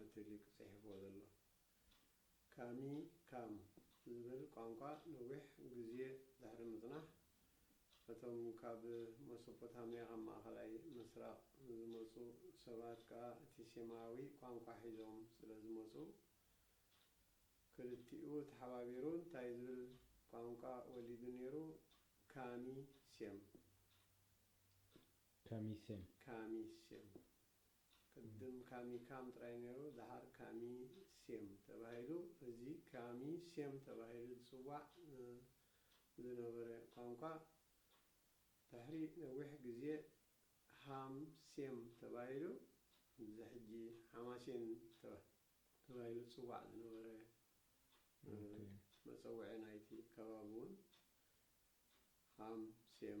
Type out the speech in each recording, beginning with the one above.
ኣቲ ሊቅ ጺሒፍዎ ዘሎ ካሚ ካም ዝብል ቋንቋ ነዊሕ ግዝየ ድሕሪ ምጽናሕ እቶም ካብ መሶፖታምያ ካብ ማእከላይ ምስራቅ ዝመጹ ሰባት ከኣ እቲ ሴማዊ ቋንቋ ሒዞም ስለ ዝመጹ ክልቲኡ ተሓባቢሩ እንታይ ዝብል ቋንቋ ወሊዱ ኔሩ ካሚ ሴም። ካሚ ሴም። ካሚ ሴም። ቅድም ካሚ ካም ጥራይ ነይሩ ድሓር ካሚ ሴም ተባሂሉ እዚ ካሚ ሴም ተባሂሉ ዝጽዋዕ ዝነበረ ቋንቋ ድሕሪ ነዊሕ ግዜ ሃም ሴም ተባሂሉ እዚ ሕጂ ሓማሴን ተባሂሉ ዝጽዋዕ ዝነበረ መጸውዒ ናይቲ ከባቢ ውን ሃም ሴም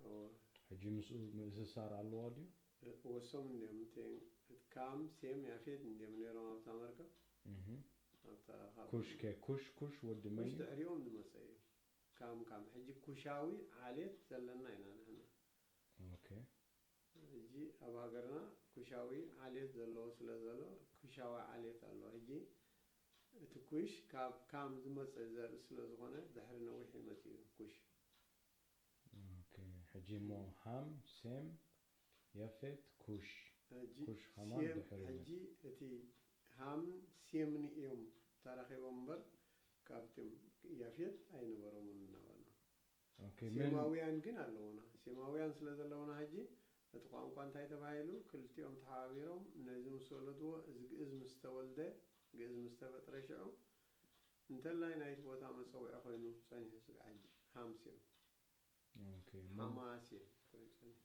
እወ። ሕጂ ምስኡ ምእስሳር ኣለዋ ድዩ? ወሶም እንድዮም እቲ እቲ ካም ሴም ያፌት እንድዮም ነይሮም ኣብታ መርከብ እህ ኣብታ ካብ ኩሽ ከ ኩሽ ኩሽ ወዲ ኩሽ መንዩ? ድሕሪኦም ዝመጸ እዩ ካም ካም ሕጂ ኩሻዊ ዓሌት ዘለና ኢና ንሕና ኦኬ። ሕጂ ኣብ ሃገርና ኩሻዊ ዓሌት ዘለዎ ስለ ዘሎ ኩሻዊ ዓሌት ኣሎ ሕጂ እቲ ኩሽ ካብ ካም ዝመጸ ዘርኢ ስለ ዝኾነ ድሕሪ ነዊሕ እዩ መጺኡ ኩሽ ኦኬ ሕጂ እሞ ሃም ሴም የፌት ኩሽ ሕጂ ኩሽ ከማን ሴም ድሕሪ ን። ሕጂ እቲ ሃምን ሴምን እዮም ተራኺቦም እምበር ካብትም ያፌት ኣይነበሮምን ናባና ኦኬ መን ሴማውያን ግን ኣለዉና ሴማውያን ስለ ዘለዉና ሕጂ እቲ ቋንቋ እንታይ ተባሂሉ ክልቲኦም ተሓባቢሮም ነዚ ምስ ወለድዎ እዚ ግእዝ ምስ ተወልደ ግእዝ ምስ ተፈጥረ ሽዑ እንተላይ ናይቲ ቦታ መጸውዒ ኮይኑ ጸኒሑ ስጋዕ ሕጂ ሃምሴን ሓማሴን ኮይኑ ጸኒሑ።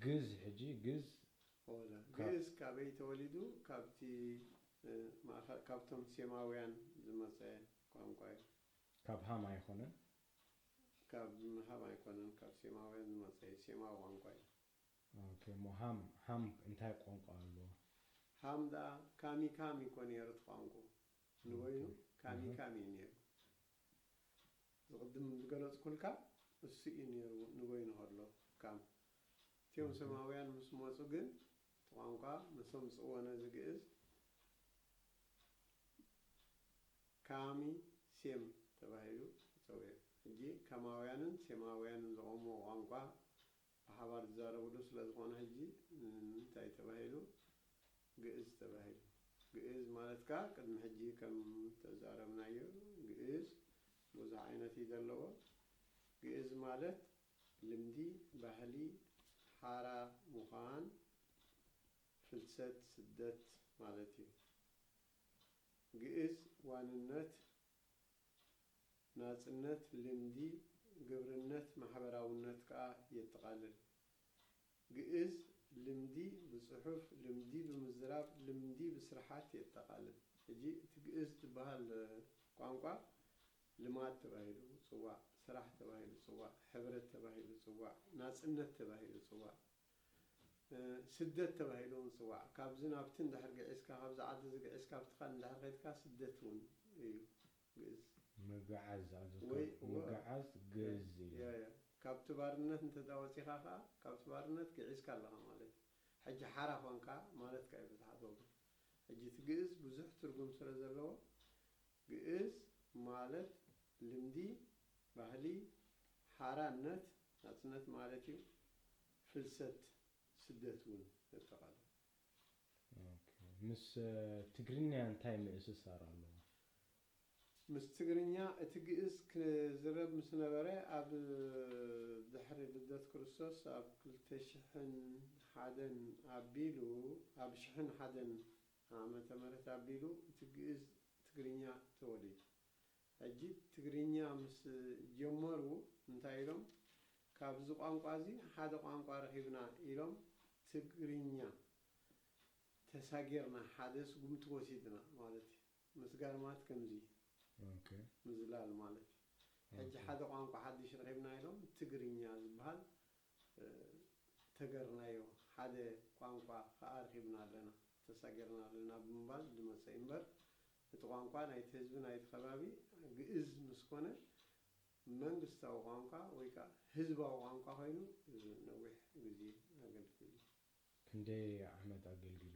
ግእዝ ሕጂ ግእዝ ኦላ ካብ። ግእዝ ካበይ ተወሊዱ ካብቲ ማእከ ካብቶም ሴማውያን ዝመጸ ቋንቋ እዩ። ካብ ሃም ኣይኾነን? ካብ ሃም ኣይኮነን ካብ ሴማውያን ዝመጸ እዩ ሴማዊ ቋንቋ እዩ። ኦኬ እሞ ሃም ሃም እንታይ ቋንቋ ኣለዎ? ሃም ደኣ ካሚካሚ እኮ ነይሩ እቲ ቋንቁኡ። ንበይኑ ካሚ ካሚ እዩ ነይሩ። ዝቕድም ዝገለጽኩልካ እሱ እዩ ነይሩ ንበይኑ ከሎ ካም። እቲዮም ሰማውያን ምስ መጹ ግን እቲ ቋንቋ መሰምጽዎ ነዚ ግእዝ ካሚ ሴም ተባሂሉ ተጸውዑ። ሕጂ ካማውያንን ሴማውያንን ዘቖምዎ ቋንቋ ብሓባር ዝዛረብሉ ስለዝኾነ ሕጂ ንምንታይ ተባሂሉ ግእዝ ተባሂሉ? ግእዝ ማለት ከኣ ቅድሚ ሕጂ ከም ተዛረብናዮ ግእዝ ብዙሕ ዓይነት እዩ ዘለዎ። ግእዝ ማለት ልምዲ፣ ባህሊ፣ ሓራ ምዃን፣ ፍልሰት፣ ስደት ማለት እዩ። ግእዝ ዋንነት ናጽነት ልምዲ ግብርነት ማሕበራውነት ከኣ የጠቓልል። ግእዝ ልምዲ ብጽሑፍ፣ ልምዲ ብምዝራብ፣ ልምዲ ብስርሓት የጠቓልል። ሕጂ እቲ ግእዝ ዝበሃል ቋንቋ ልማድ ተባሂሉ ጽዋዕ፣ ስራሕ ተባሂሉ ጽዋዕ፣ ሕብረት ተባሂሉ ጽዋዕ፣ ናጽነት ተባሂሉ ጽዋዕ። ስደት ተባሂሉ ውን ይጽዋዕ ካብዚ ናብቲ እንድሕር ግዒዝካ ካብዚ ዓዲ እዚ ግዒዝካ ኣብቲ ካልእ እንድሕር ከድካ ስደት ውን እዩ ግእዝ ምግዓዝ ኣብዚ ወይ ካብ እወ ምግዓዝ ግእዝ እዩ። እያ እያ ካብቲ ባርነት እንተ ወጺኻ ከኣ ካብቲ ባርነት ግዒዝካ ኣለኻ ማለት እዩ ሕጂ ሓራ ኮንካ ማለት ከኣ እዩ ብዝሓት ወገን። ሕጂ እቲ ግእዝ ብዙሕ ትርጉም ስለ ዘለዎ ግእዝ ማለት ልምዲ ባህሊ ሓራነት ናጽነት ማለት እዩ ፍልሰት ስደት ውን የጠቓልል። ምስ ትግርኛ እንታይ ምእስሳር ኣለዎ? ምስ ትግርኛ እቲ ግእዝ ክዝረብ ምስ ነበረ ኣብ ድሕሪ ልደት ክርስቶስ ኣብ ክልተ ሽሕን ሓደን ኣቢሉ ኣብ ሽሕን ሓደን ዓመተ ምህረት ኣቢሉ እቲ ግእዝ ትግርኛ ተወሊዱ ሕጂ ትግርኛ ምስ ጀመሩ እንታይ ኢሎም ካብዚ ቋንቋ እዚ ሓደ ቋንቋ ረኺብና ኢሎም ትግርኛ ተሳጊርና ሓደ ስጉምቲ ወሲድና ማለት እዩ። ምስጋር ማለት ከምዚ እዩ ምዝላል ማለት ሕጂ ሓደ ቋንቋ ሓድሽ ረኺብና ኢሎም ትግርኛ ዝብሃል ተገርናዮ ሓደ ቋንቋ ክኣ ርኺብና ኣለና ተሳጊርና ኣለና ብምባል ድመጸ እዩ እምበር እቲ ቋንቋ ናይቲ ህዝቢ ናይቲ ከባቢ ግእዝ ምስ ኮነ መንግስታዊ ቋንቋ ወይ ክኣ ህዝባዊ ቋንቋ ኮይኑ ነዊሕ ግዜ ኣገልጊሉ እዩ። ክንደይ ዓመት ኣገልጊሉ?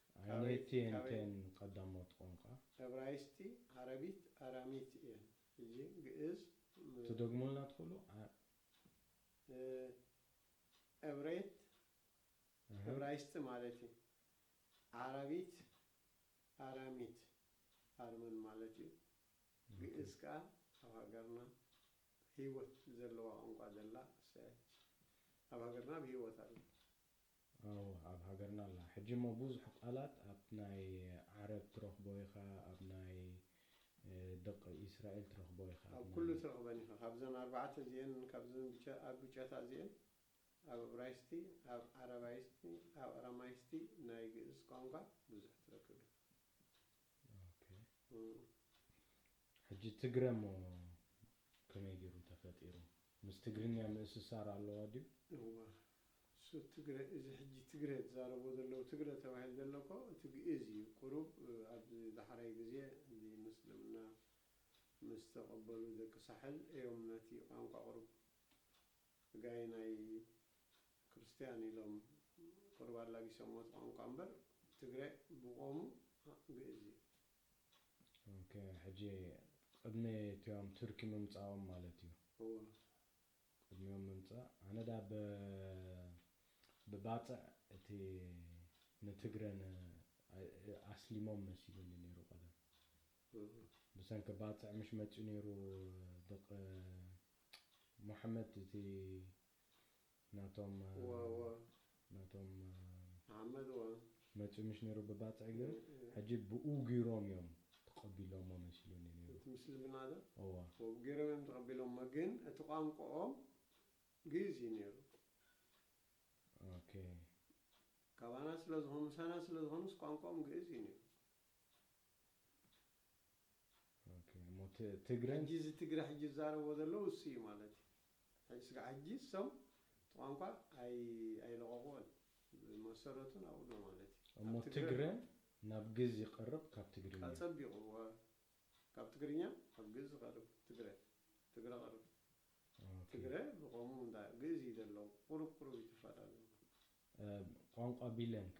ኣየነይቲ እንተን ቀዳሞት ቋንቋ? ዕብራይስጢ፣ ዓረቢት፣ ኣራሚት እየን። ሕጂ ግእዝ ም። ትደግሙልና ትኽእሉ? ዓ። ዕብሬት፣ እህ። ዕብራይስጢ ማለት እዩ። ዓረቢት፣ ኣራሚት፣ ኣርመን ማለት እዩ። ግእዝ ከኣ ኣብ ሃገርና ህይወት ዘለዋ ቋንቋ ዘላ እሰያች ኣብ ሃገርና ብህይወት ኣላ። ኣወ ኣብ ሃገርና ኣላ ሕጂ እሞ ቡዙሕ ቃላት ኣብ ናይ ዓረብ ትረክቦ ኢካ ኣብ ናይ ደቅ ኢስራኤል ትረክቦ ኢካ ኣብ ኣብ ኩሉ ናይ ትረክበን ኢካ ካብዘን ኣርባዕተ እዚኤን ካብዘን ብቸ ኣብ ብጨታ እዚኤን ኣብ እብራይስቲ ኣብ ዓረባይስቲ ኣብ ኣራማይስቲ ናይ ግእዝ ቋንቋ ቡዙሕ ትረክብ ኢካ ኦኬ እም። ሕጂ ትግረ እሞ ከመይ ጌሩ ተፈጢሩ ምስ ትግርኛ ምእስሳር ኣለዋ ዲዩ? እወ ሱት ትግረ እዚ ሕጂ ትግረ ዝዛረብዎ ዘለዉ ትግረ ተባሂሉ ዘሎ እኮ እቲ ግእዝ እዩ ቁሩብ ኣብዚ ዳሕራይ ግዜ እዚ ምስልምና ምስ ተቀበሉ ደቂ ሳሕል እዮም ነቲ ቋንቋ ቁሩብ ጋይ ናይ ክርስትያን ኢሎም ቁሩብ ኣላጊሶምዎ እቲ ቋንቋ እምበር ትግረ ብቆሙ ግእዝ እዩ። ኦኬ ሕጂ ቅድሚ እቲኦም ቱርኪ ምምጻኦም ማለት እዩ። እወ ቅድሚኦም ምምጻእ ኣነ ድኣ ብ ብባጽዕ እቲ ንትግረ ን ኣስሊሞም መሲሉኒ ኔሩ ቀደም ብሰንኪ ባጽዕ ምሽ መጺኡ ኔሩ ድቅ ሞሐመድ እቲ ናቶም ዋዋ ናቶም መሓመድ እዋን መጺኡ ምሽ ነሩ ብባጽዕ ግን ሕጂ ብኡ ጊሮም ኢዮም ተቀቢሎሞ መሲሉኒ ነሩ እቲ ምስልምና ዶ እወ። ብኡ ጊሮም ኢዮም ተቀቢሎሞ ግን እቲ ቋንቆኦም ግእዝ ኢዩ ነሩ። ኦኬ። ካባና ስለ ዝኮኑ ምሳና ስለ ዝኮኑስ ቋንቆኦም ግእዝ ኢዩ ነሩ። እሞ ትግረ ሕጂ እዚ ትግረ ሕጂ ዝዛረብዎ ዘሎ ንሱ ኢዩ ማለት ኢዩ ሕጂ ስጋዕ ሕጂ እሶም እቲ ቋንቋ ኣይ ኣይለቐቑዎን ብመሰረቱ ናብኡ ኣሎ ማለት ኢዩ እሞ ኣብ ትግረ ትግረ ኣሎ ናብ ግእዝ ይቐርብ ካብ ትግርኛ። ኣጸቢቑ እወ ካብ ትግርኛ ናብ ግእዝ ዝቐርብ ትግረ ትግረ ቐርብ ኦኬ ትግረ ብቐሙ እንዳ ግእዝ ኢዩ ዘለዉ ቑሩብ ቑሩብ ኢዩ ተፋላልዮም። ቋንቋ ቢለን ከ